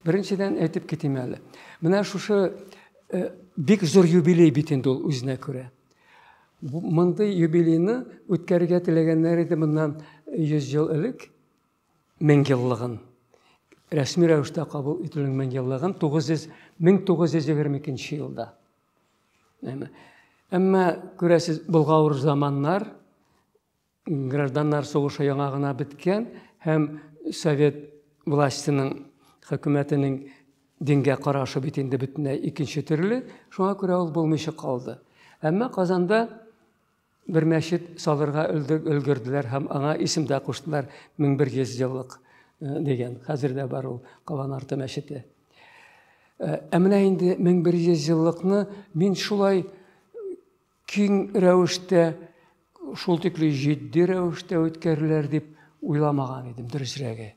Беренчедән әйтеп китим әле. Менә шушы э, бик зур юбилей бит инде ул үзенә күрә. Мондый юбилейны үткәрергә теләгәннәр иде моннан 100 ел элек 1000 еллыгын. Рәсми рәвештә кабул ителүнең 1000 еллыгын 900 1922 елда. Әмма күрәсез, болгавыр заманнар Гражданнар сугышы яңа гына беткән һәм совет властеның, хөкүмәтенең дингә карашы бит инде бөтенләй икенче төрле, шуңа күрә ул булмыйча калды. Әмма Казанда бер мәчет салырга өлгерделәр һәм аңа исем дә куштылар 1100 еллык э, дигән. Хәзер дә бар ул Калан арты мәчете. Э, ә менә инде 1100 еллыкны мин шулай киң рәвештә, шул тикле җитди рәвештә үткәрелер дип уйламаган идем, дөресрәге.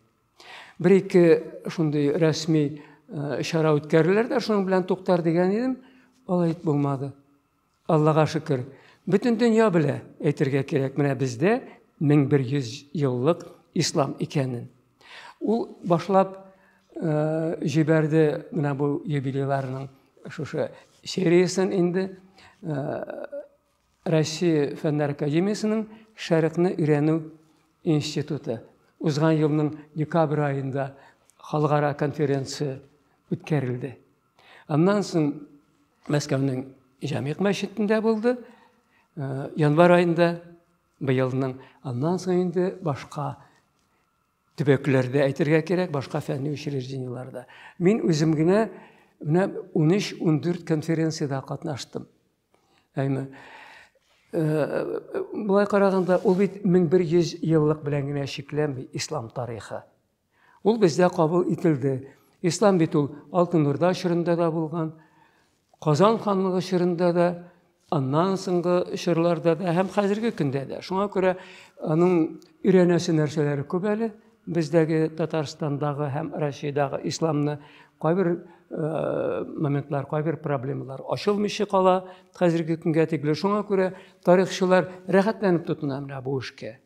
Бер-ике шундый рәсми э, чара үткәрелер дә, шуның белән туктар дигән идем, алай булмады. Аллага шөкер. Бөтен дөнья белә, әйтергә кирәк, менә бездә 1100 еллык ислам икәнен. Ул башлап җибәрде менә бу юбилейларның шушы сериясен инде. Россия фәннәр академиясенең Шәрекне өйрәнү институты узган елның декабрь айында халыкара конференция үткәрелде. Аннан соң Мәскәүнең Җәмигъ мәчетендә булды. Январь айында Быелның аннан соң инде башка төбәкләрдә әйтергә кирәк, башка фәнни учреждениеларда. Мин үзем генә менә 13-14 конференциядә катнаштым. Әйме. Э, Булай караганда, ул бит 1100 еллык белән генә чикләнми ислам тарихы. Ул бездә кабул ителде. Ислам бит ул Алтын Урда чорында да булган, Казан ханлыгы чорында да, аннан соңгы чорларда да һәм хәзерге көндә дә. Шуңа күрә аның өйрәнәсе нәрсәләре күп әле. Бездәге Татарстандагы һәм Россиядәге исламны кайбер э, моментлар, кайбер проблемалар ачылмыйча кала хәзерге көнгә тикле. Шуңа күрә тарихчылар рәхәтләнеп тотына менә бу эшкә.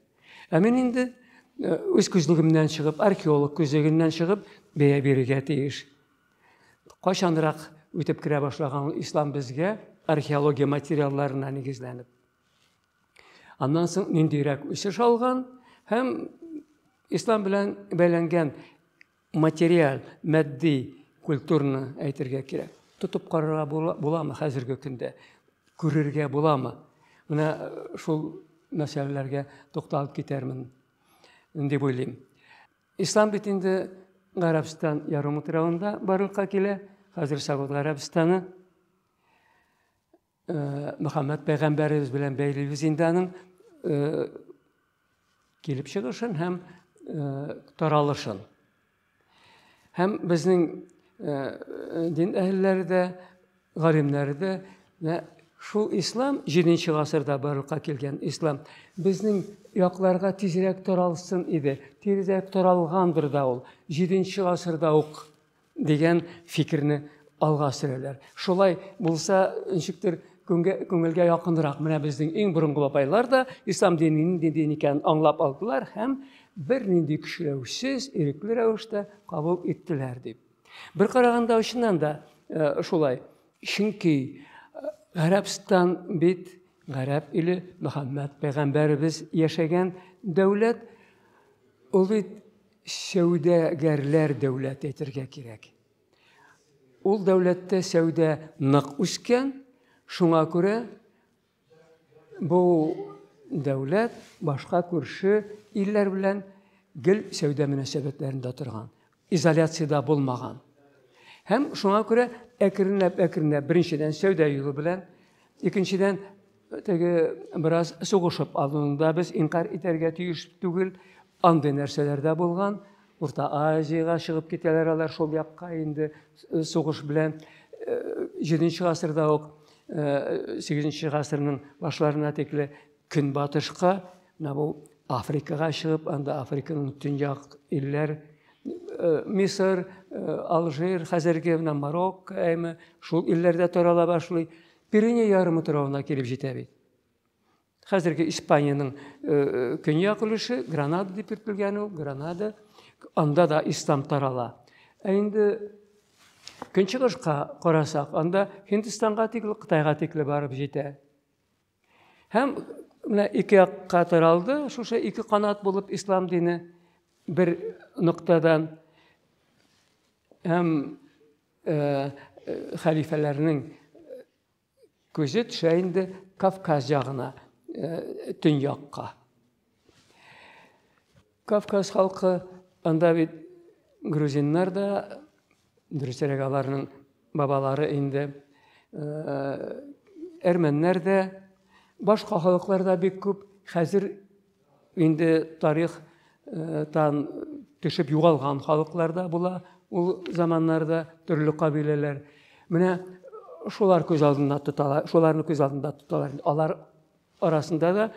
Ә мин инде э, үз күзлегемнән чыгып, археолог күзлегеннән чыгып, бәя бирергә тиеш. Кайчанрак үтеп керә башлаган ислам безгә археология материалларына нигезләнеп. Аннан соң ниндирәк үсеш алган һәм ислам белән бәйләнгән материаль, матди культураны әйтергә кирәк. Тотып карарга буламы хәзерге көндә? Күрергә буламы? Менә э, шул мәсьәләләргә тукталып китәрмен дип уйлыйм. Ислам бит инде Гарәбстан ярымутравында барлыкка килә, хәзер Сауд Гарәбстаны. Мөхәммәд пәйгамбәребез белән бәйлибез инде аның килеп чыгышын һәм таралышын. Һәм безнең дин әһелләре дә, галимнәре дә шул ислам 7 гасырда барлыкка килгән ислам безнең якларга тизрәк таралсын иде. Тизрәк таралгандыр да ул 7 гасырда ук дигән фикерне алга сөрәләр. Шулай булса, ничектер күңелгә якынрак. Менә безнең иң борынгы бабайлар да ислам диненең нинди дин икәнен аңлап алдылар һәм бернинди көчләүсез, ирекле рәвештә кабул иттеләр дип. Бер караганда очыннан да э, шулай. Чөнки э, Гарәбстан бит Гарәп иле, Мөхәммәд пәйгамбәребез яшәгән дәүләт. Ул бит сәүдәгәрләр дәүләте әйтергә кирәк. Ул дәүләттә сәүдә нык үскән, шуңа күрә бу дәүләт башка күрше илләр белән гел сәүдә мөнәсәбәтләрендә торган, изоляциядә булмаган. Һәм шуңа күрә әкренләп-әкренләп беренчедән сәүдә юлы белән, икенчедән Теге бераз сугышып алуында без инкар итәргә тиеш түгел. Андый нәрсәләр дә булган. Урта Азиягә чыгып китәләр алар шул якка инде э, сугыш белән. Э, җиденче гасырда ук, э, сигезенче гасырның башларына тикле көнбатышка, менә бу Африкага чыгып, анда Африканың төньяк илләр, Мисыр, Алжир, хәзерге менә Марокко, әйме, шул илләрдә тарала башлый. Пиренея ярым утравына килеп җитә бит. Хәзерге Испаниянең э, э, көньяк өлеше, Гранада дип йөртелгән ул, Гранада. Анда да ислам тарала. Ә инде көнчыгышка карасак, анда Һиндстанга тикле, Кытайга тикле барып җитә. Һәм менә ике якка таралды, шушы ике канат булып ислам дине бер ноктадан һәм хәлифәләрнең күзе төшә инде Кавказ ягына, төньякка. Кавказ халкы, анда бит грузиннар да, дөресрәк аларның бабалары инде, әрмәннәр дә, башка халыклар да бик күп, хәзер Инде тарих тан төшеп югалган халыклар да була ул заманнарда төрле кабиләләр менә шулар күз алдында тоталар шуларны күз алдында тоталар алар арасында да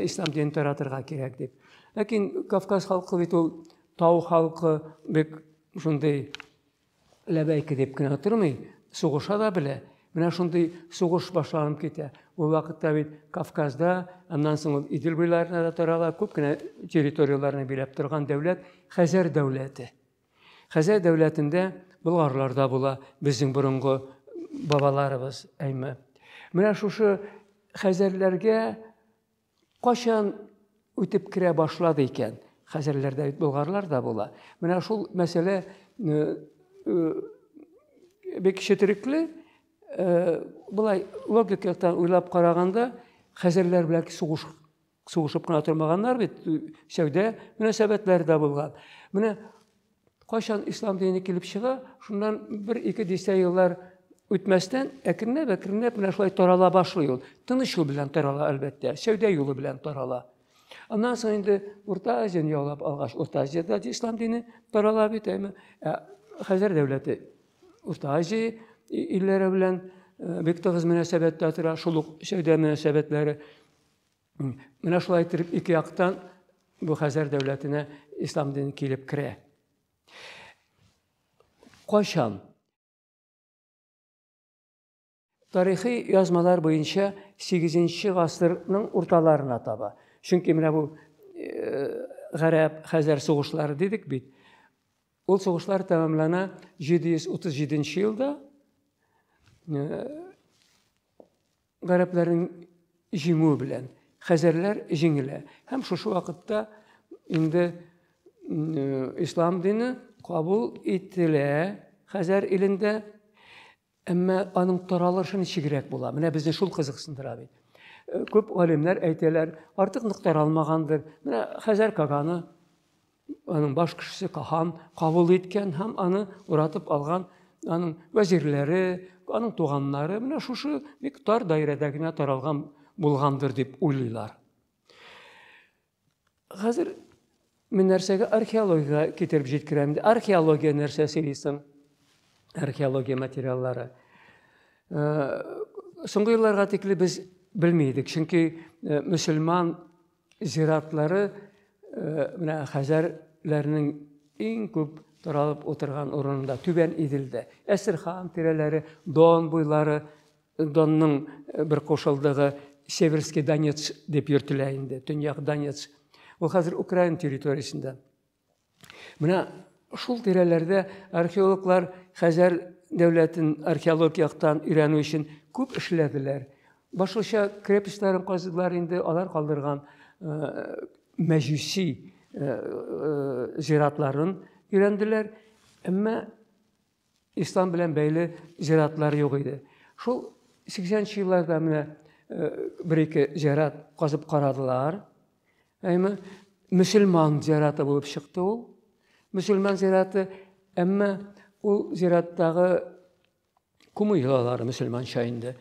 ислам динен таратырга кирәк дип ләкин кавказ халкы бит ул тау халкы бик шундый ләбәйке дип кенә тормый, сугыша да белә. Менә шундый сугыш башланып китә. Ул вакытта бит Кавказда, аннан соң ул Идел буйларына да тарала, күп кенә территорияләрне биләп торган дәүләт Хәзәр дәүләте. Хәзәр дәүләтендә болгарлар да була, безнең борынгы бабаларыбыз, әйме. Менә шушы хәзәрләргә Качан үтеп керә башлады икән? Хәзерләрдә бит болгарлар да була. Менә шул мәсьәлә бик четерекле, былай логик яктан уйлап караганда, хәзерләр белән сугыш сугышып кына тормаганнар бит, сәүдә мөнәсәбәтләре дә булган. Менә Кайчан ислам дине килеп чыга, шуннан бер-ике дистә еллар үтмәстән, әкренләп-әкренләп менә шулай тарала башлый ул. Тыныч юл белән тарала, әлбәттә, сәүдә юлы белән тарала. Аннан соң инде Урта Азияны яулап алгач, Урта Азиядә дә ислам дине тарала бит, әйме? Ә Хәзәр дәүләте Урта Азия илләре белән э, бик тыгыз мөнәсәбәттә тора, шул ук сәүдә мөнәсәбәтләре. Менә шулай итеп ике яктан бу Хәзәр дәүләтенә ислам дине килеп керә. Кайчан? Тарихи язмалар буенча 8 гасырның урталарына таба. Чөнки менә бу э, гарәп, хәзәр сугышлары дидек бит. Ул сугышлар тәмамлана 737 елда. Э, гарәпләрнең җиңүе белән хәзәрләр җиңелә. Һәм шушы вакытта инде ислам дине кабул ителә хәзәр илендә, әмма аның таралышы ничегрәк була. Менә безне шул кызыксындыра бит. Күп галимнәр әйтәләр, артык нык таралмагандыр. Менә хәзәр каганы Аның баш кешесе хан кабул иткән һәм аны уратып алган аның вәзирләре, аның туганнары менә шушы бик тар даирәдә генә таралган булгандыр дип уйлыйлар. Хәзер мин нәрсәгә археологиягә китереп җиткерәм. Археология нәрсә сөйлисең? Археология материаллары. Э, соңгы елларга тикле без белми идек, чөнки э, мөселман Зиратлары менә хәзәрләрнең иң күп таралып утырган урынында, Түбән Иделдә. Әстерхан тирәләре, Дон буйлары, Донның бер кушылдыгы Северский Донец дип йөртелә инде, Төньяк Донец. Ул хәзер Украина территориясендә. Менә шул тирәләрдә археологлар Хәзәр дәүләтен археологик яктан өйрәнү өчен күп эшләделәр. Башлыча крепостьларын казыдылар инде, алар калдырган э, мәҗүси э, э, зиратларын өйрәнделәр. Әмма Ислам белән бәйле зиратлар юк иде. Шул 80 нче елларда менә э, бер-ике зират казып карадылар. Әйме, мөселман зираты булып чыкты ул. Мөселман зираты, әмма ул зираттагы күмү йолалары мөселманча инде.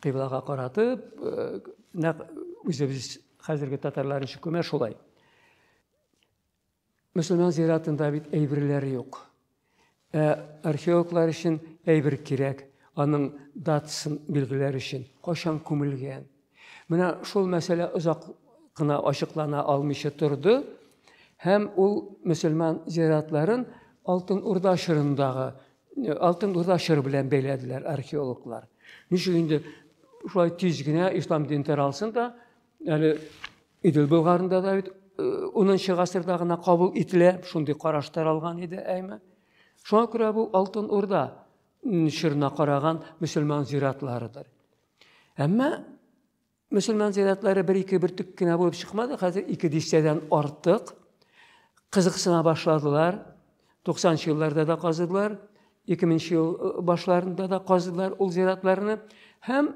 Кыйблага каратып, э, нәкъ үзебез хәзерге татарлар ничек күмә шулай. Мөселман зиратында бит әйберләр юк. Ә археологлар өчен әйбер кирәк, аның датасын билгеләр өчен, кайчан күмелгән. Менә шул мәсьәлә озак кына ачыклана алмыйча торды һәм ул мөселман зиратларын Алтын Урда чорындагы э, Алтын Урда чоры белән бәйләделәр археологлар. Ничек инде шулай тиз генә ислам дин таралсын да, Әле Идел Болгарында да бит 10 э, гасырда гына кабул ителә, шундый караш таралган иде әйме. Шуңа күрә бу Алтын Урда чорына караган мөселман зиратларыдыр. Әмма мөселман зиратлары бер-ике бөртек кенә булып чыкмады, хәзер ике дистәдән артык кызыксына башладылар. 90 елларда да казыдылар, 2000 ел э, башларында да казыдылар ул зиратларны һәм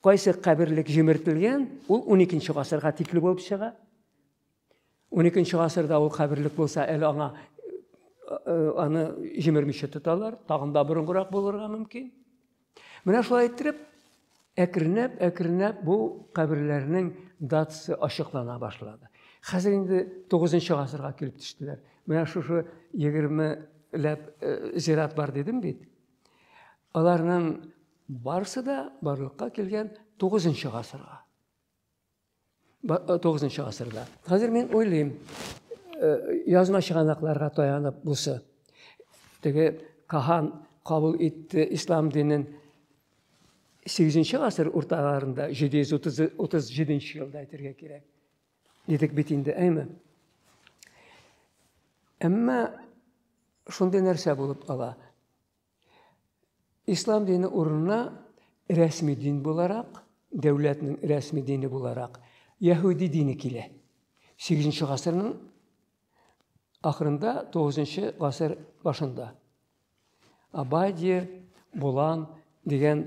Кайсы каберлек җимертелгән, ул 12 гасырга тикле булып чыга. 12 гасырда ул каберлек булса, әле аңа э, аны җимермичә тоталар, тагын да борынгырак булырга мөмкин. Менә шулай иттереп, әкренләп, әкренләп бу каберләрнең датасы ачыклана башлады. Хәзер инде 9 гасырга килеп төштеләр. Менә шушы 20 ләп э, зират бар дидем бит. Аларның барысы да барлыкка килгән 9 нчы гасырга. 9 э, нчы гасырда. Хәзер мин уйлыйм, э, язма чыганакларга таянып бусы. Теге Кахан кабул итте ислам динен 8 нчы гасыр урталарында, 737 елда әйтергә кирәк. Дидек бит инде, әйме? Әмма шундый нәрсә булып кала. Ислам дине урынына рәсми дин буларак, дәүләтнең рәсми дине буларак, яһүди дине килә. 8 гасырның ахырында, 9 гасыр башында. Абадия, Булан дигән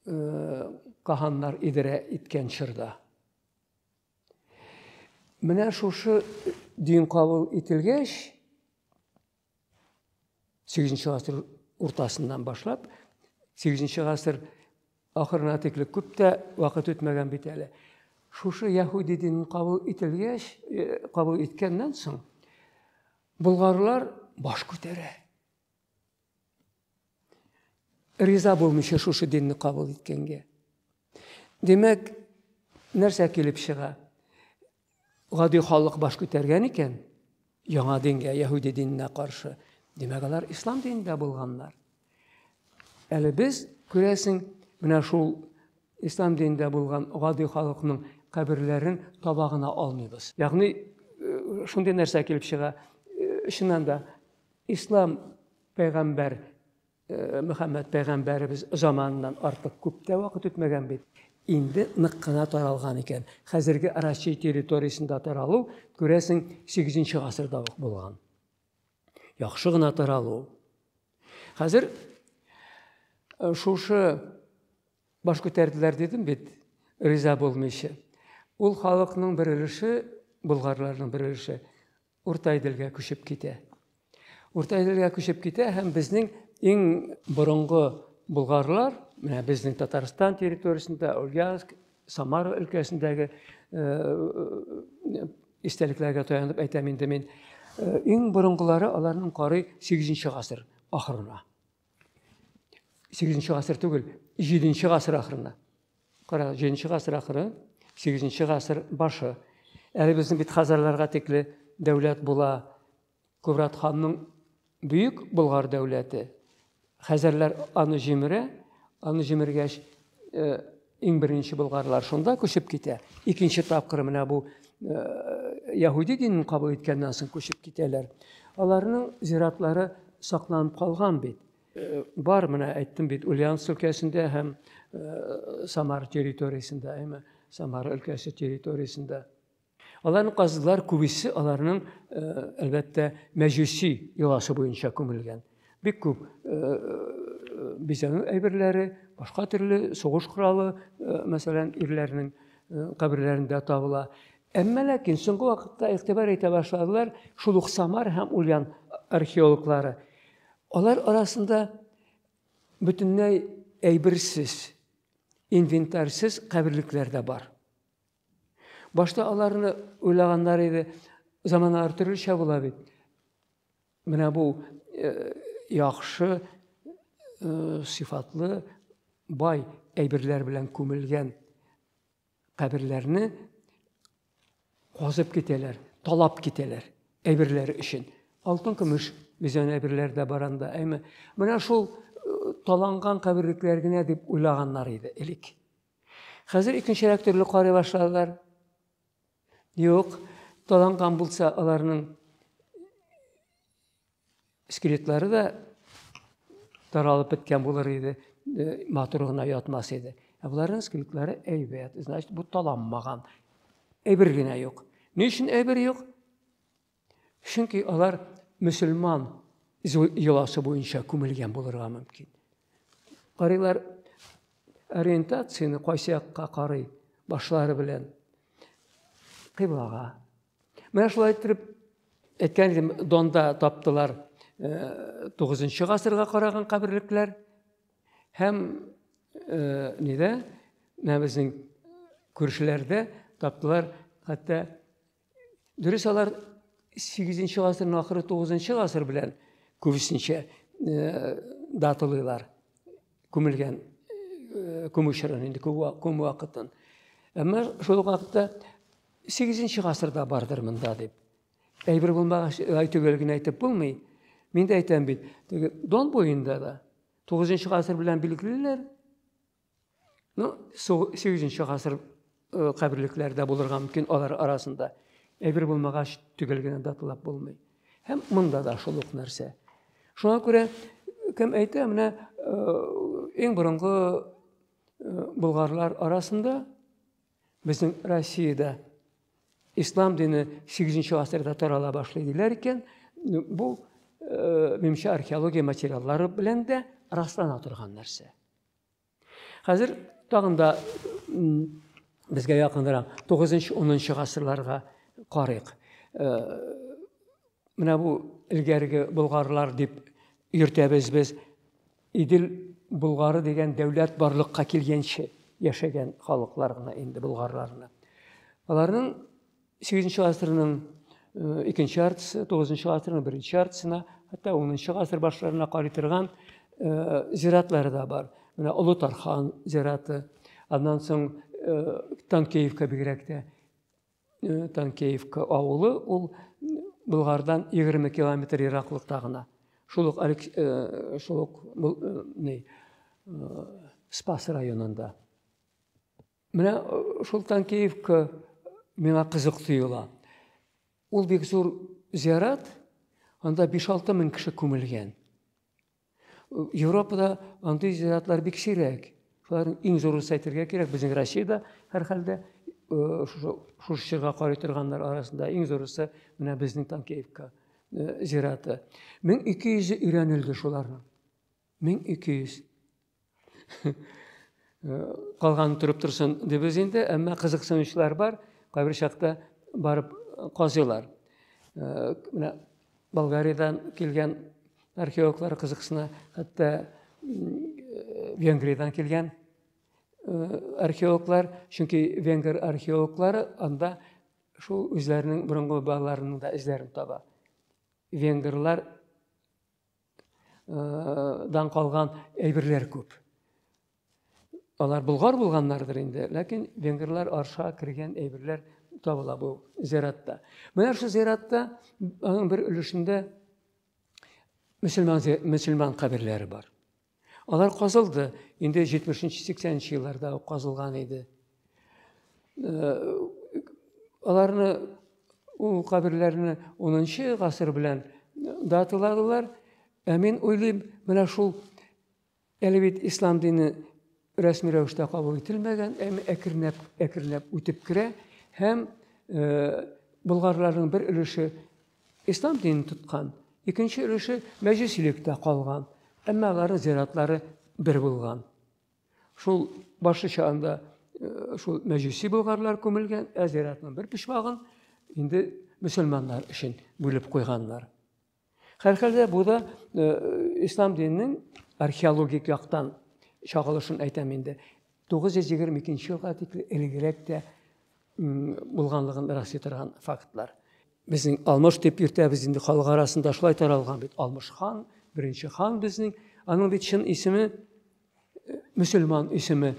э, каханнар идарә иткән чорда. Менә шушы дин кабул ителгәч, 8 гасыр уртасыннан башлап, 8 гасыр ахырына тикле күп тә вакыт үтмәгән бит әле. Шушы яһүди динен кабул ителгәч, э, кабул иткәннән соң, болгарлар баш күтәрә. Риза булмыйча шушы динне кабул иткәнгә. Димәк, нәрсә килеп чыга? Гади халык баш күтәргән икән, яңа дингә, яһүди диненә каршы. Димәк, алар ислам динендә булганнар. Әле без, күрәсең, менә шул ислам динендә булган гади халыкның каберләрен таба гына алмыйбыз. Ягъни, э, шундый нәрсә килеп чыга, э, чыннан да, Ислам пәйгамбәр Мөхәммәд пәйгамбәребез заманыннан артык күп тә вакыт үтмәгән бит. Инде нык кына таралган икән. Хәзерге Россия территориясендә таралу, күрәсең, 8 гасырда ук булган. Яхшы гына таралу. Хәзер э, шушы баш күтәрделәр дидем бит, риза булмыйча. Ул халыкның бер өлеше, болгарларның бер өлеше Урта Иделгә күчеп китә. Урта Иделгә күчеп китә һәм безнең иң борынгы болгарлар, менә безнең Татарстан территориясендә, Ульяновск, Самара өлкәсендәге истәлекләргә таянып әйтәм инде мин, иң борынгылары аларның карый 8 нче гасыр ахырына. 8-нче гасыр түгел, 7-нче гасыр ахырында. Кара, 7-нче гасыр ахыры, 8-нче гасыр башы. Әле безнең бит хазарларга тикле дәүләт була. Кубрат ханның бөек Болгар дәүләте. Хәзәрләр аны җимерә, аны җимергәч, э, Иң беренче болгарлар шунда күчеп китә. Икенче тапкыр менә бу э, яһүди динен кабул иткәннән соң күчеп китәләр. Аларның зиратлары сакланып калган бит. Э, бар менә әйттем бит Ульяновск өлкәсендә һәм э, Самар территориясендә, әйме, Самар өлкәсе территориясендә. Аларны казыдылар, күбесе аларның, э, әлбәттә, мәҗүси йоласы буенча күмелгән. Бик күп э, э, бизәнү әйберләре, башка төрле сугыш коралы, мәсәлән, ирләрнең каберләрендә табыла. Әмма ләкин соңгы вакытта игътибар итә башладылар шул ук Самар һәм Ульян археологлары. Алар арасында бөтенләй әйберсез, инвентарьсез каберлекләр дә бар. Башта аларны уйлаганнар иде, заманалар төрлечә була бит. Менә бу э, яхшы, э, сыйфатлы, бай әйберләр белән күмелгән каберләрне казып китәләр, талап китәләр әйберләре өчен. Алтын, көмеш бизән әйберләр дә бар анда, әйме. Менә шул э, таланган каберлекләр генә дип уйлаганнар иде элек. Хәзер икенчерәк төрле карый башладылар. Юк, таланган булса аларның скелетлары да таралып беткән булыр иде, э, матур гына ятмас иде. Ә боларның скелетлары әйбәт, значит, бу таланмаган. Әйбер генә юк. Ни өчен әйбер юк? Чөнки алар мөселман йоласы буенча күмелгән булырга мөмкин. Карыйлар ориентацияне кайсы якка карый башлары белән кыйблага. Менә шулай итеп әйткән идем, Донда таптылар 9 э, гасырга караган каберлекләр һәм э, нидә менә безнең күршеләрдә таптылар хәтта Дөрес алар 8 гасырның ахыры 9 гасыр белән күбесенчә э, датылыйлар күмелгән э, күмү чорын инде күм вакытын. Әмма шул вакытта 8 гасырда бардыр монда дип. Әйбер булмагач, әйтүгә генә әйтеп булмый. Мин дә әйтәм бит, Дон буенда да 9 гасыр белән билгелиләр, Ну, 8-нче гасыр э, каберлекләре дә булырга мөмкин алар арасында. Әйбер булмагач, төгәл генә даталап булмый. Һәм монда да шул ук нәрсә. Шуңа күрә кем әйтә, менә иң э, борынгы э, болгарлар арасында безнең Россиядә ислам дине 8-нче гасырда тарала башлый диләр икән. Бу э, мемча археология материаллары белән дә раслана торган нәрсә. Хәзер тагын да безгә якынрак 9-10 гасырларга карыйк. Менә бу элгәрге болгарлар дип йөртәбез без. Идел болгары дигән дәүләт барлыкка килгәнче яшәгән халыклар гына инде болгарларны. Аларның Сигезенче гасырның икенче яртысы, тугызынчы гасырның беренче яртысына, хәтта унынчы гасыр башларына карый торган зиратлары да бар. Менә Олы Тархан зираты, аннан соң Танкеевка бигрәк тә. Танкеевка авылы ул Болгардан 20 километр ераклыкта гына. Шул ук шул ук Спас районында. Менә э, шул Танкеевка миңа кызык тоела. Ул бик зур зиярат, анда 5-6 мең кеше күмелгән. Э, Европада андый зияратлар бик сирәк. Шуларның иң зурысы әйтергә кирәк, безнең Россиядә һәрхәлдә э, шушы чорга карый торганнар арасында иң зурысы менә безнең Танкеевка зираты. 1200 өйрәнелде шуларның. 1200. Калган торып торсын дибез инде, әмма кызыксынучылар бар, кайбер чакта барып казыйлар. Менә Болгариядән килгән археологлар кызыксына, хәтта Венгриядән килгән археологлар, чөнки венгр археологлары анда шул үзләренең борынгы бабаларының да эзләрен таба. Венгрлар дан калган әйберләр күп. Алар булгар булганнардыр инде, ләкин венгрлар арша кергән әйберләр табыла бу зиратта. Менә шул зиратта аның бер өлешендә мөселман мөселман каберләре бар. Алар казылды. Инде 70-80 елларда ук казылган иде. Э, аларны ул каберләрне 10 гасыр белән даталадылар. Ә мин уйлыйм, менә шул әле бит ислам дине рәсми рәвештә кабул ителмәгән, әмма әкренләп әкренләп үтеп керә һәм э, болгарларның бер өлеше Ислам динен тоткан. Икенче өлеше мәҗүсилектә калган. Әмма аларның зиратлары бер булган. Шул башы чагында э, шул мәҗүси болгарлар күмелгән, ә зиратның бер почмагын инде мөселманнар өчен бүлеп куйганнар. Һәрхәлдә бу да э, ислам диненең археологик яктан чагылышын әйтәм инде. 922 елга тикле элегрәк тә булганлыгын раслый торган фактлар. Безнең Алмыш дип йөртәбез инде халык арасында шулай таралган бит. Алмыш хан, беренче хан безнең. Аның бит чын исеме э, мөселман исеме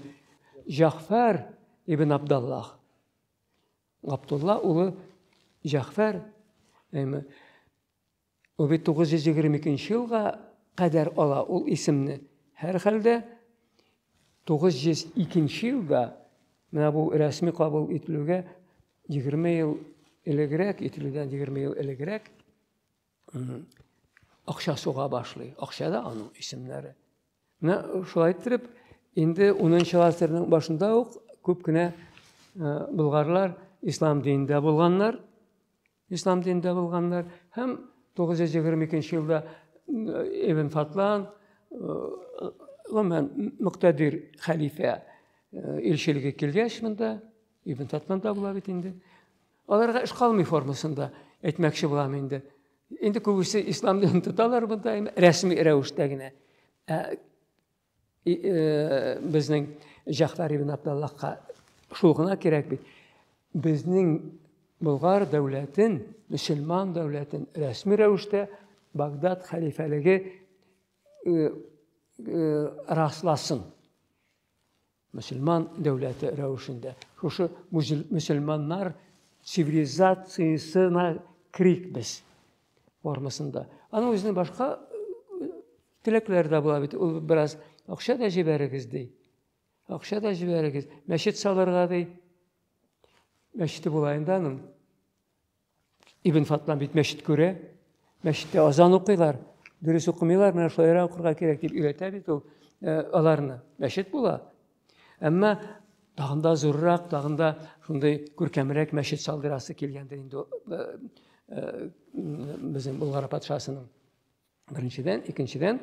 Җафар ибн Абдаллах. Габдулла улы Җафар, әйме, Бу бит 922 нче елга кадәр ала ул исемне. Һәрхәлдә, 902 нче елда менә бу рәсми кабул ителүгә 20 ел элегрәк, ителүдән 20 ел элегрәк акча суга башлый. Акча да аның исемнәре. Менә шулай иттереп, инде 10 нчы гасырның башында ук күп кенә болгарлар ислам динендә булганнар. Ислам динендә булганнар һәм 922 елда Ибн Фатлан, гомумән, мөктәдир хәлифә илчелеге килгәч монда, Ибн Фатлан да була бит инде. Аларга эш калмый формасында әйтмәкче булам инде. Инде күбесе ислам динен тоталар монда, рәсми рәвештә генә. Безнең Җәгъфәр ибн Абдаллахка шул гына кирәк бит. Безнең Болгар дәүләтен, мөселман дәүләтен рәсми рәвештә Багдад хәлифәлеге расласын. Мөселман дәүләте рәвешендә шушы мөселманнар цивилизациясенә керик без формасында. Аның үзенең башка теләкләре дә була бит. Ул бераз акча да җибәрегез ди. Акча да җибәрегез. Мәчет салырга ди. Мәчете була инде аның. Ибн Фатлан бит мәчет күрә, мәчеттә азан укыйлар, дөрес укымыйлар, менә шулайрак укырга кирәк дип өйрәтә бит ул э, аларны. Мәчет була. Әмма тагын да зуррак, тагын да шундый күркәмрәк мәчет салдырасы килгәндер инде э, э, безнең Болгар патшасының. Беренчедән, икенчедән,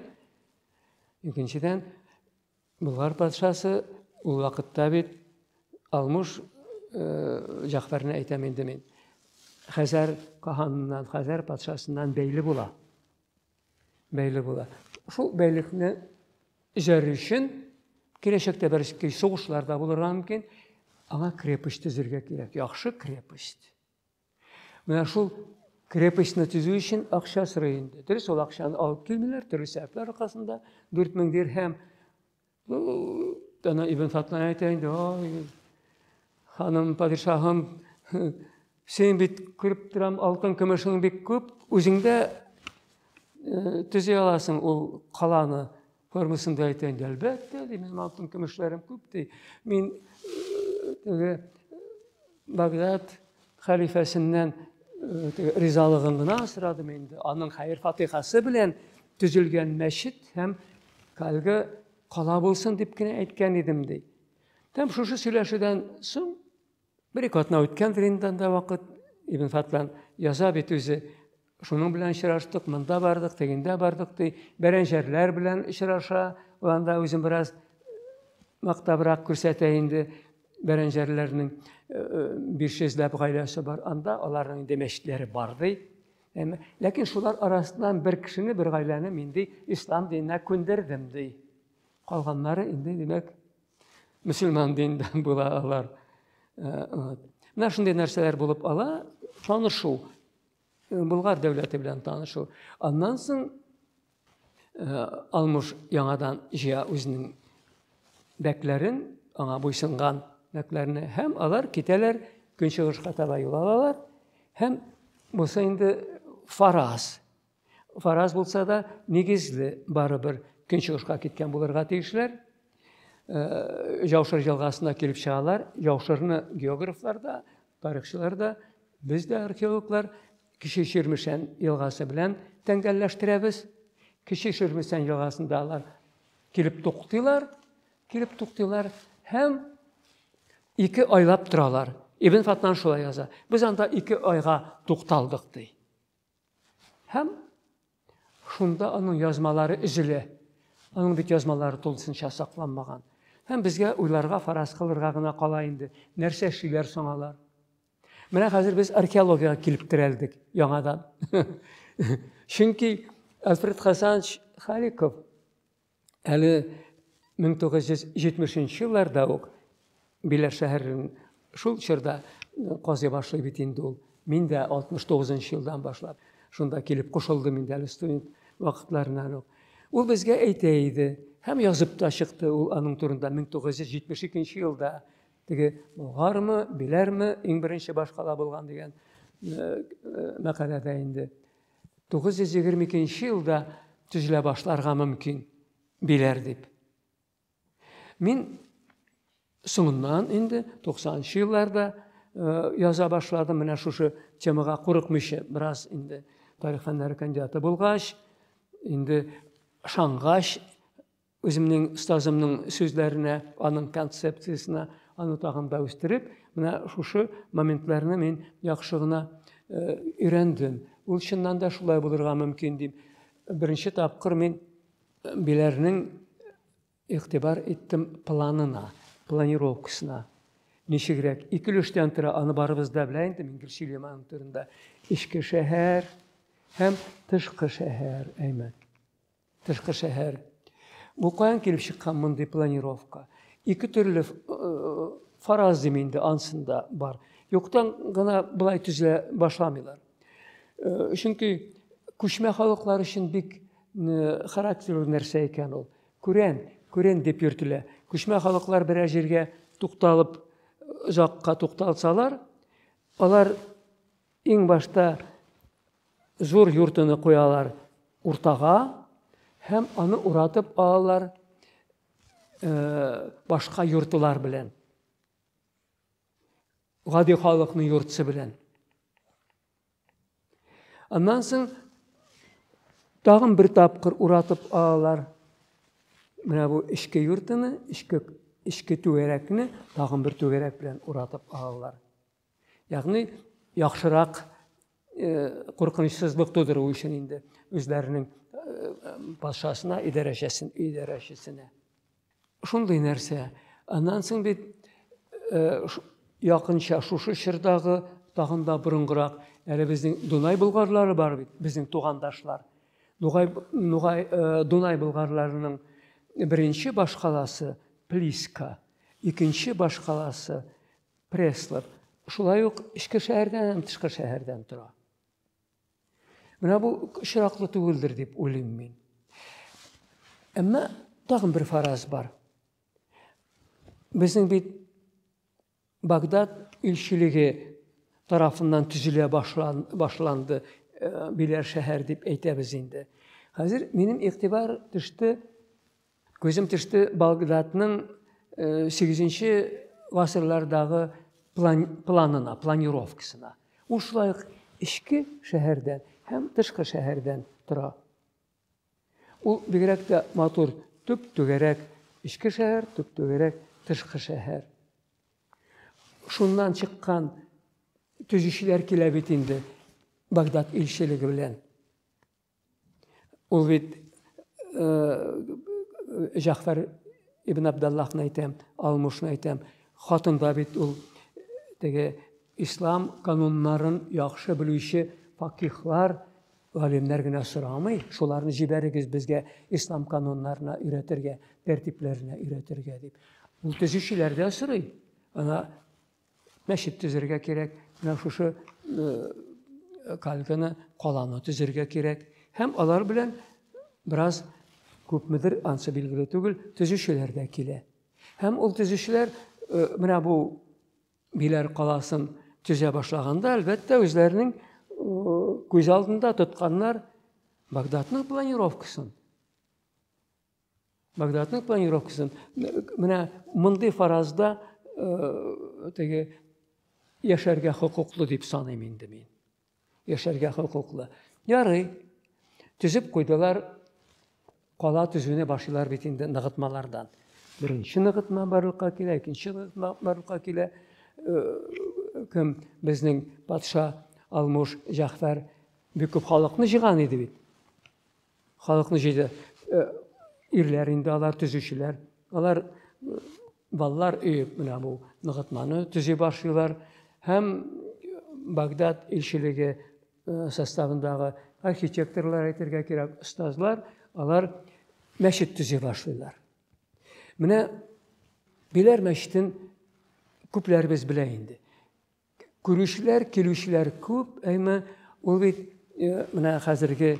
икенчедән Болгар патшасы ул вакытта бит Алмуш Җәгъфәрне әйтәм инде мин. Хәзәр каһаныннан, Хәзәр патшасыннан бәйле була. Бәйле була. Шул бәйлекне җәр өчен киләчәктә бәлки сугышлар да булырга мөмкин. Аңа крепость төзергә кирәк. Яхшы крепость. Менә шул крепостьны төзү өчен акча сорый инде. Дөрес, ул акчаны алып килмиләр, төрле сәбәпләр аркасында 4000 дирһәм. Ну, ана Ибн Фатлан әйтә инде, ой, ханым, падишаһым, син бит күреп торам, алтын көмешең бик күп, үзеңдә э, төзи аласың ул каланы. Формасында әйтән, әлбәттә, ди, минем алтын көмешләрем күп, ди. Мин теге Багдад хәлифәсеннән ризалыгын гына сорадым инде. Аның хәер фатихасы белән төзелгән мәчет һәм әлеге кала булсын дип кенә әйткән идем, ди. Һәм шушы сөйләшүдән соң Бер-ике атна үткәндер инде анда вакыт. Ибн Фатлан яза бит үзе. Шуның белән очраштык, монда бардык, тегендә бардык, ди. Бәрәнҗәрләр белән очраша. Ул анда үзен бераз мактабрак күрсәтә инде. Бәрәнҗәрләрнең 500 ләп гаиләсе бар. Анда аларның инде мәчетләре бар, ди. Ләкин шулар арасыннан бер кешене, бер гаиләне мин, ди, ислам диненә күндердем, ди. Калганнары инде, димәк, мөселман диненнән була алар э, менә шундый нәрсәләр булып ала танышу э, болгар дәүләте белән танышу аннан соң э, алмыш яңадан җыя үзенең бәкләрен аңа буйсынган бәкләрне һәм алар китәләр көнчыгышка таба юл алалар һәм булса инде фараз Фараз булса да, нигезле барыбер көнчыгышка киткән булырга тиешләр. Э, Яушыр елгасына килеп чыгалар. Яушырны географлар да, тарихчылар да, без дә археологлар Кече Ширмешән елгасы белән тәңгәлләштерәбез. Кече Ширмешән елгасында алар килеп туктыйлар, килеп туктыйлар һәм ике айлап торалар. Ибн Фатнан шулай яза. Без анда ике айга тукталдык ди. Һәм шунда аның язмалары өзелә. Аның бит язмалары тулысынча сакланмаган. Һәм безгә уйларга, фараз кылырга гына кала инде. Нәрсә эшлиләр соң алар? Менә хәзер без археологиягә килеп терәлдек яңадан. Чөнки Альфред Хасанович Халиков Әле 1970 нче елларда ук Биләр шәһәрен шул чорда казый башлый бит инде ул. Мин дә 69 нчы елдан башлап шунда килеп кушылдым инде әле студент вакытларыннан ук. Ул безгә әйтә иде һәм язып та чыкты ул аның турында 1972 елда теге болгармы, биләрме иң беренче башкала булган дигән мәкаләдә инде. 922 елда төзелә башларга мөмкин, диләр дип. Мин соңыннан инде 90 елларда э, яза башладым менә шушы темага курыкмыйча бераз инде тарих фәннәре кандидаты булгач инде шангач Үземнең остазымның сүзләренә, аның концепциясенә аны тагын да үстереп, менә шушы моментларны мин яхшы гына э, өйрәндем. Ул чыннан да шулай булырга мөмкин дип. Беренче тапкыр мин э, Биләрнең игътибар иттем планына, планировкасына. Ничегрәк, ике өлештән тора, аны барыбыз да белә инде, мин гел сөйлим аның турында. Эчке шәһәр һәм тышкы шәһәр, әймәт. Тышкы шәһәр. Бу каян килеп чыккан мондый планировка? Ике төрле э, фараз дим инде ансында бар. Юктан гына былай төзелә башламыйлар. Э, чөнки күчмә халыклар өчен бик э, характерлы нәрсә икән ул. Күрән, күрән дип йөртелә. Күчмә халыклар берәр җиргә тукталып, озакка тукталсалар, алар Иң башта зур юртыны куялар уртага һәм аны уратып алалар э, башка юртылар белән. Гади халыкның юртысы белән. Аннан соң тагын бер тапкыр уратып алалар. Менә бу эчке юртыны, эчке эчке түгәрәкне тагын бер түгәрәк белән уратып алалар. Ягъни яхшырак куркынычсызлык тудыру өчен инде үзләренең патшасына идарәчесен идарәчесенә шундый нәрсә аннан соң бит якынча шушы чордагы тагын да борынгырак әле безнең дунай болгарлары бар бит безнең тугандашлар нугай нугай дунай болгарларының беренче башкаласы плиска икенче башкаласы Пресслар шулай ук эчке шәһәрдән һәм тышкы шәһәрдән тора. Менә бу очраклы түгелдер дип уйлыйм мин. Әмма тагын бер фараз бар. Безнең бит Багдад илчелеге тарафыннан төзелә башлан, башланды э, биләр шәһәр дип әйтәбез инде. Хәзер минем игътибар төште Күзем төште Багдадның сигезенче гасырлардагы план, планына, планировкасына. Ул шулай ук эчке шәһәрдән һәм тышкы шәһәрдән тора. Ул бигрәк тә матур, төп түгәрәк эчке шәһәр, төп түгәрәк тышкы шәһәр. Шуннан чыккан төзүчеләр килә бит инде Багдад илчелеге белән. Ул бит Җафар ибн Абдаллахны әйтәм, Алмушны әйтәм. Хатында бит ул теге ислам кануннарын яхшы белүче факихлар, галимнәр генә сорамый, шуларны җибәрегез безгә ислам кануннарына өйрәтергә, тәртипләренә өйрәтергә дип. Ул төзүчеләрдә сорый. Ана Мәчет төзергә кирәк, менә шушы кальканы каланы төзергә кирәк. Һәм алар белән бераз күпмедер ансы билгеле түгел, төзүчеләр дә килә. Һәм ул төзүчеләр менә бу Биләр каласын төзә башлаганда, әлбәттә, үзләренең күз алдында тотканнар Багдадның планировкасын. Багдадның планировкасын менә мондый фаразда э, теге яшәргә хокуклы дип саныйм инде мин. Яшәргә хокуклы. Ярый. Төзеп куйдылар. Кала төзүне башлыйлар бит инде ныгытмалардан. Беренче ныгытма барлыкка килә, икенче ныгытма барлыкка килә. Э, кем безнең патша Алмуш Җәхфәр бик күп халыкны җыган иде бит. Халыкны җыйды. Э, ирләр инде алар, төзүчеләр. Алар э, балалар өе менә бу ныгытманы төзи башлыйлар һәм Багдад илчелеге э, составындагы архитекторлар әйтергә кирәк, остазлар, алар мәчет төзи башлыйлар. Менә Биләр мәчетен күпләребез белә инде. Күрүчеләр, килүчеләр күп, әйме ул бит менә хәзерге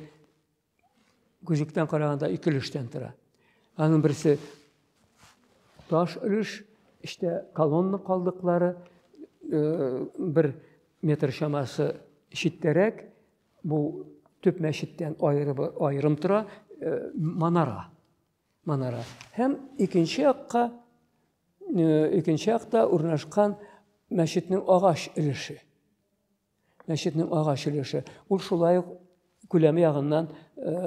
күзектән караганда ике өлештән тора. Аның берсе таш өлеш, эчтә колонна калдыклары, бер метр чамасы читтәрәк, бу төп мәчеттән аерым тора, манара. Манара. Һәм икенче якка, икенче якта урнашкан мәчетнең агач өлеше. Мәчетнең агач өлеше. Ул шулай ук күләме ягыннан,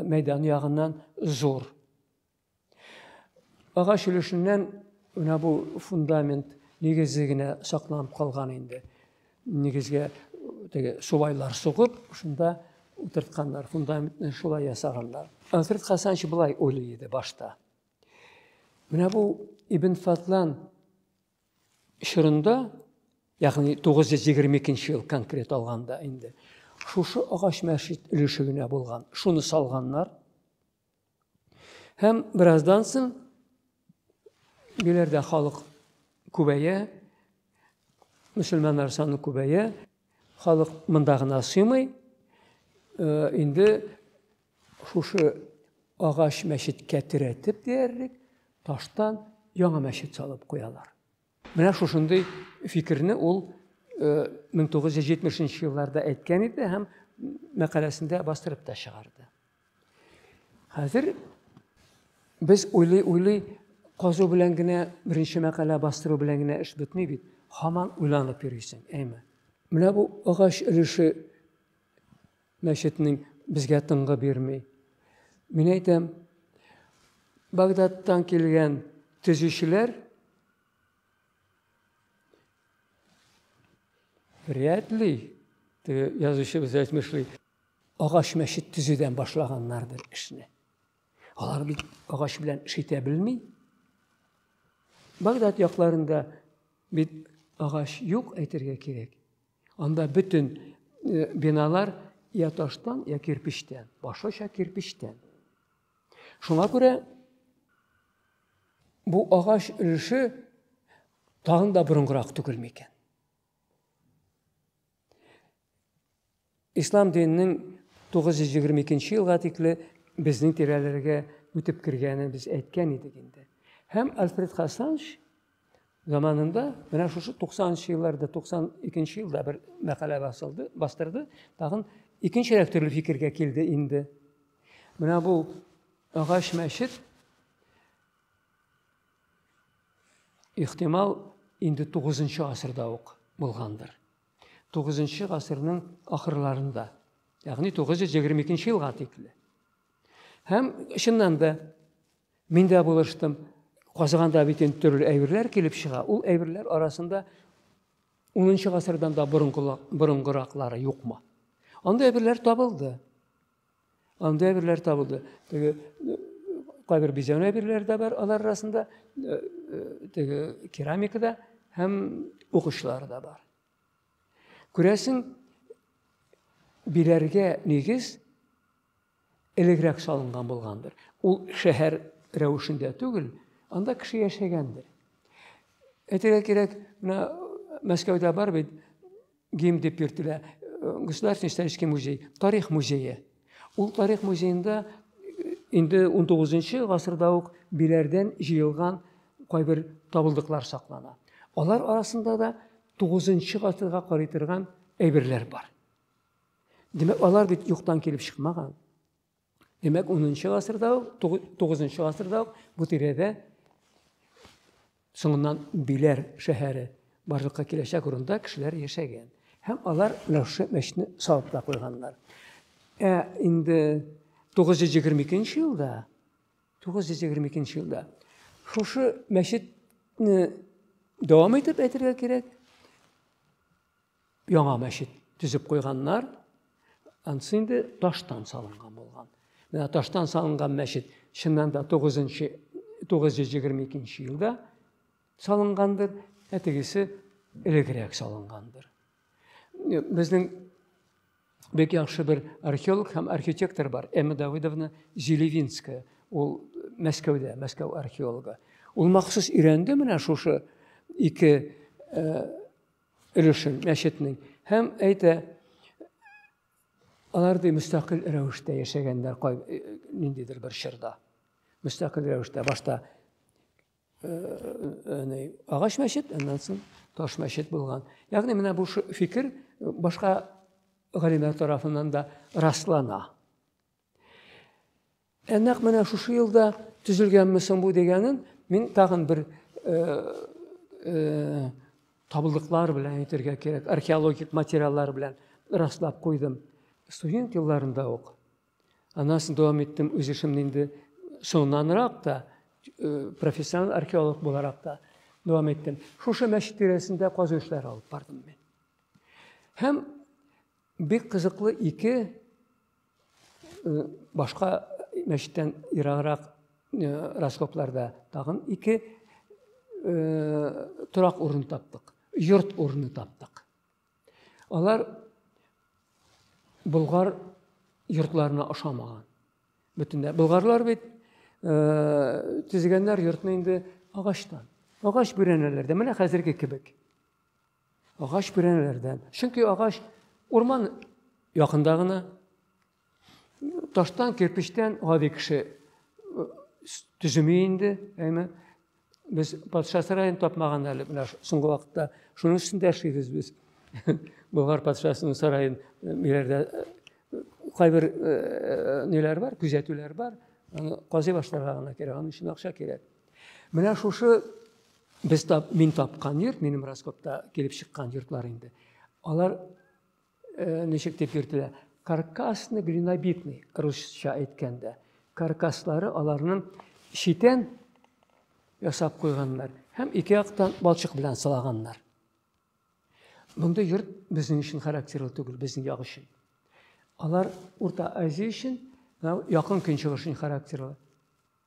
мәйдан ягыннан зур. Агач өлешеннән менә бу фундамент нигезе генә сакланып калган инде. Нигезгә теге субайлар сугып, шунда утыртканнар, фундаментны шулай ясаганнар. Ансыр Хасанович былай уйлый иде башта. Менә бу Ибн Фатлан чорында, ягъни 922 ел конкрет алганда инде, шушы агач мәчет өлеше генә булган. Шуны салганнар. Һәм бераздан соң биләрдә халык күбәя, мөселманнар саны күбәя, халык монда гына сыймый. Э, инде шушы агач мәчеткә терәтеп диярлек таштан яңа мәчет салып куялар. Менә шушындый фикерне ул 1970 елларда әйткән иде һәм мәкаләсендә бастырып та чыгарды. Хәзер без уйлый-уйлый казу белән генә беренче мәкалә бастыру белән генә эш бетми бит. Хаман уйланып йөрисең, әйме. Менә бу агач өлеше Мәчетнең безгә тынгы бирми. Мин әйтәм, Багдадтан килгән төзүчеләр вряд ли, теге язучыбыз әйтмешли, агач мәчет төзүдән башлаганнардыр эшне. Алар бит агач белән эш итә белми. Багдад якларында бит агач юк әйтергә кирәк. Анда бөтен э, биналар я таштан, я кирпичтән, башлыча кирпичтән. Шуңа күрә бу агач өлеше тагын да борынгырак түгелме икән? Ислам диненең 922 нче елга тикле безнең тирәләргә үтеп кергәнен без әйткән идек инде. Һәм Альфред Хасанш заманында менә шушы 90 нчы елларда 92 нче елда бер мәкалә басылды, бастырды, тагын икенчерәк төрле фикергә килде инде. Менә бу агач мәчет ихтимал инде 9 нчы гасырда ук булгандыр. Тугызынчы гасырның ахырларында, ягъни 922 елга тикле. Һәм чыннан да мин дә булыштым. Казыганда бит инде төрле әйберләр килеп чыга. Ул әйберләр арасында 10 гасырдан да борынгыраклары юкмы? Анда әйберләр табылды. Анда әйберләр табылды. Теге кайбер бизәнү әйберләре дә бар алар арасында, э, э, теге керамикада һәм ук очлары да бар. Күрәсең, биләргә нигез элегрәк салынган булгандыр. Ул шәһәр рәвешендә түгел, анда кеше яшәгәндер. Әйтергә кирәк, менә Мәскәүдә бар бит Гим дип йөртелә. Государственный исторический музей, тарих музее. Ул тарих музеенда инде 19 гасырда ук биләрдән җыелган кайбер табылдыклар саклана. Алар арасында да 9 гасырга карый торган әйберләр бар. Димәк, алар бит юктан килеп чыкмаган. Димәк, 10-нчы гасырда ук, 9-нчы гасырда ук бу тирәдә соңыннан Биләр шәһәре барлыкка киләчәк урында кешеләр яшәгән. Һәм алар менә шушы мәчетне салып та куйганнар. Ә инде 922 елда 922 елда шушы мәчетне дәвам итеп әйтергә кирәк, Яңа мәчет төзеп куйганнар. Ансы инде таштан салынган булган. Менә таштан салынган мәчет чыннан да 9-нчы 922 елда салынгандыр, ә тегесе элегрәк салынгандыр. Безнең бик яхшы бер археолог һәм архитектор бар эмма давыдовна зелевинская ул мәскәүдә мәскәү археологы ул махсус өйрәнде менә шушы ике э, өлешен, мәчетнең. Һәм әйтә, алар ди мөстәкыйль рәвештә яшәгәннәр кай э, ниндидер бер чорда. Мөстәкыйль рәвештә башта э, э, агач мәчет, аннан соң таш мәчет булган. Ягъни менә бу фикер башка галимнәр тарафыннан да раслана. Ә нәкъ менә шушы елда төзелгәнме соң бу дигәнен мин тагын бер табылдыклар белән әйтергә кирәк, археологик материаллар белән раслап куйдым. Студент елларында ук. Аннан соң дәвам иттем үз эшемне инде соңыннанрак та, профессиональ археолог буларак та дәвам иттем. Шушы мәчет тирәсендә казу эшләре алып бардым мин. Һәм бик кызыклы ике башка мәчеттән ераграк раскопларда тагын ике торак урын таптык йорт урыны таптык алар болгар йортларына ошамаган бөтенләй болгарлар бит төзегәннәр йортны инде агачтан агач бүрәнәләрдә менә хәзерге кебек Агач бүрәнәләрдән. Чөнки агач урман якында гына. Таштан, кирпечтән гади кеше төземи инде, әйме. Без патша сараен тапмаган әле менә соңгы вакытта. Шуның өстендә яшибез без. Болгар патшасының сараен ниләрдә кайбер ниләр бар, күзәтүләр бар. Аны казый башларга гына кирәк, аның өчен акча кирәк. Менә шушы Без тап, мин тапкан йорт, минем Раскопта килеп чыккан йортлар инде. Алар э, ничек дип йөртелә? Каркасны глинобитный, русча әйткәндә. Каркаслары аларның читен ясап куйганнар һәм ике яктан балчык белән сылаганнар. Мондый йорт безнең өчен характерлы түгел, безнең як өчен. Алар Урта Азия өчен, якын көнчыгыш өчен характерлы.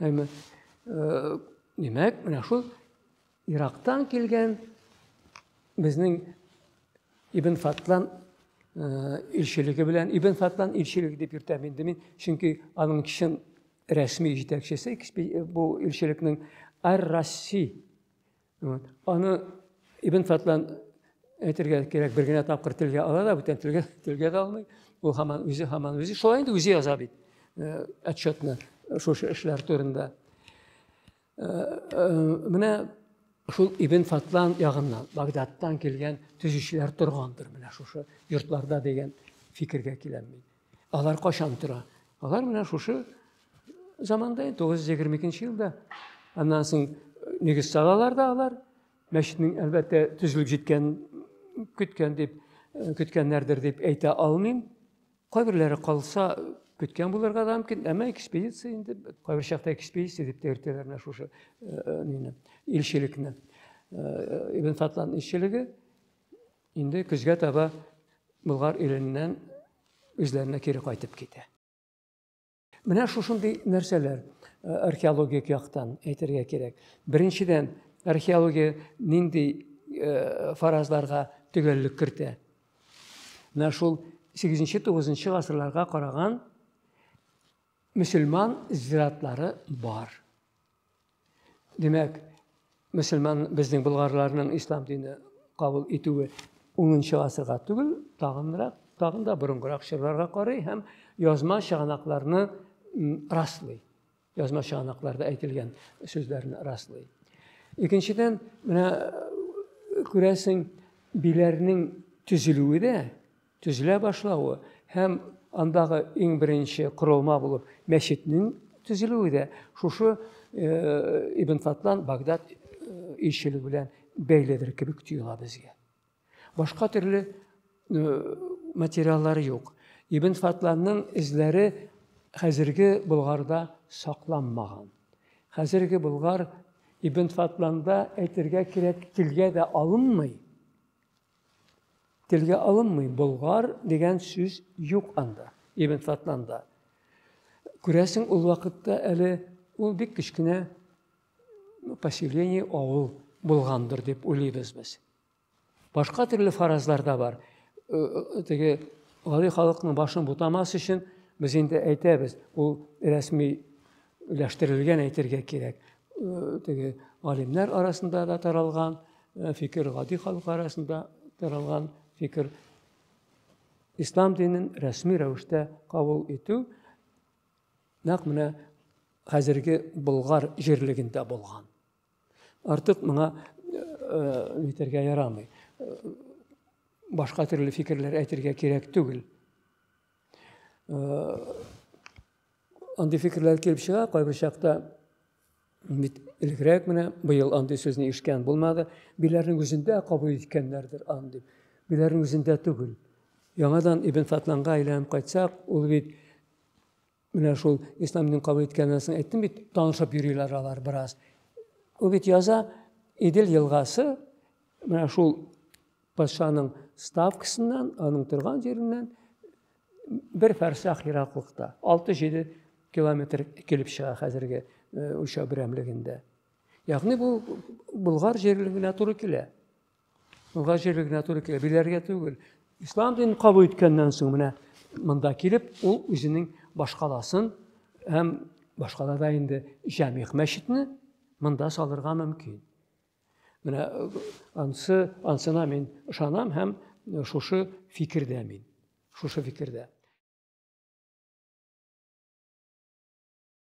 Әмма э, димәк, менә шул Ирактан килгән безнең Ибн Фатлан э, илчелеге белән Ибн Фатлан илчелеге дип йөртәм инде мин, чөнки аның чын рәсми җитәкчесе бу илчелекнең Ар-Расси Вот. Аны Ибн Фатлан әйтергә кирәк, бер генә тапкыр телгә ала да, бүтән телгә, телгә дә алмый. Ул һаман үзе, һаман үзе. Шулай инде үзе яза бит э, отчетны э, шушы эшләр турында. Э, менә шул Ибн Фатлан ягыннан, Багдадтан килгән төзүчеләр торгандыр менә шушы йортларда дигән фикергә киләм мин. Алар качан тора? Алар менә шушы заманда, 922 елда. Аннан соң э, нигез салалар да алар. Мәчетнең, әлбәттә, төзелеп җиткән, көткән дип, э, көткәннәрдер дип әйтә алмыйм. Кайберләре калса, көткән булырга да мөмкин, әмма экспедиция инде, кайбер чакта экспедиция дип тә йөртәләр менә шушы э, нине, илчелекне. Ибн Фатлан илчелеге Инде көзгә таба Болгар иленнән үзләренә кире кайтып китә. Менә шушындый нәрсәләр э, археологик яктан әйтергә кирәк. Беренчедән, археология нинди э, фаразларга төгәллек кертә? Менә шул 8-9 гасырларга караган мөселман зиратлары бар. Димәк, мөселман безнең болгарларның ислам дине кабул итүе 10 гасырга түгел, тагынрак, тагын да борынгырак чорларга карый һәм язма чыганакларны раслый. Язма чыганакларда әйтелгән сүзләрне раслый. Икенчедән, менә күрәсең, биләрнең төзелүе дә төзелә башлавы һәм андагы иң беренче корылма булып мәчетнең төзелүе дә шушы Ибн Фатлан Багдад илчелеге белән бәйледер кебек тоела безгә. Башка төрле материаллары юк. Ибн Фатланның эзләре хәзерге Болгарда сакланмаган. Хәзерге Болгар Ибн Фатланда әйтергә кирәк, телгә дә алынмый. Телгә алынмый, болгар дигән сүз юк анда, Ибн Фатланда. Күрәсең, ул вакытта әле ул бик кечкенә поселение, авыл булгандыр дип уйлыйбыз без. Башка төрле фаразлар да бар. Э, э, теге гади халыкның башын бутамас өчен без инде әйтәбез, ул рәсми өләштерелгән әйтергә кирәк. Э, теге галимнәр арасында да таралган э, фикер, гади халык арасында таралган фикер. Ислам динен рәсми рәвештә кабул итү нәкъ менә хәзерге Болгар җирлегендә булган. Артык моңа әйтергә э, ярамый. Башка төрле фикерләр әйтергә кирәк түгел. Андый фикерләр килеп чыга кайбер чакта. Бит элегрәк менә быел андый сүзне ишкән булмады. Биләрнең үзендә кабул иткәннәрдер андый. Биләрнең үзендә түгел. Яңадан Ибн Фатланга әйләнеп кайтсак, ул бит менә шул ислам динен кабул иткәннән соң әйттем бит, танышып йөриләр алар бераз. Ул бит яза Идел елгасы менә шул Патшаның ставкасыннан, аның торган җиреннән бер фәрсах ераклыкта, 6-7 километр килеп чыга хәзерге үлчәү берәмлегендә. Ягъни бу Болгар җирлегенә туры килә. Болгар җирлегенә туры килә, биләргә түгел. Ислам динен кабул иткәннән соң менә монда килеп, ул үзенең башкаласын һәм башкалада инде Җәмигъ мәчетне монда салырга мөмкин. Менә э, ансы, ансына мин ышанам һәм э, шушы фикердә мин. Шушы фикердә.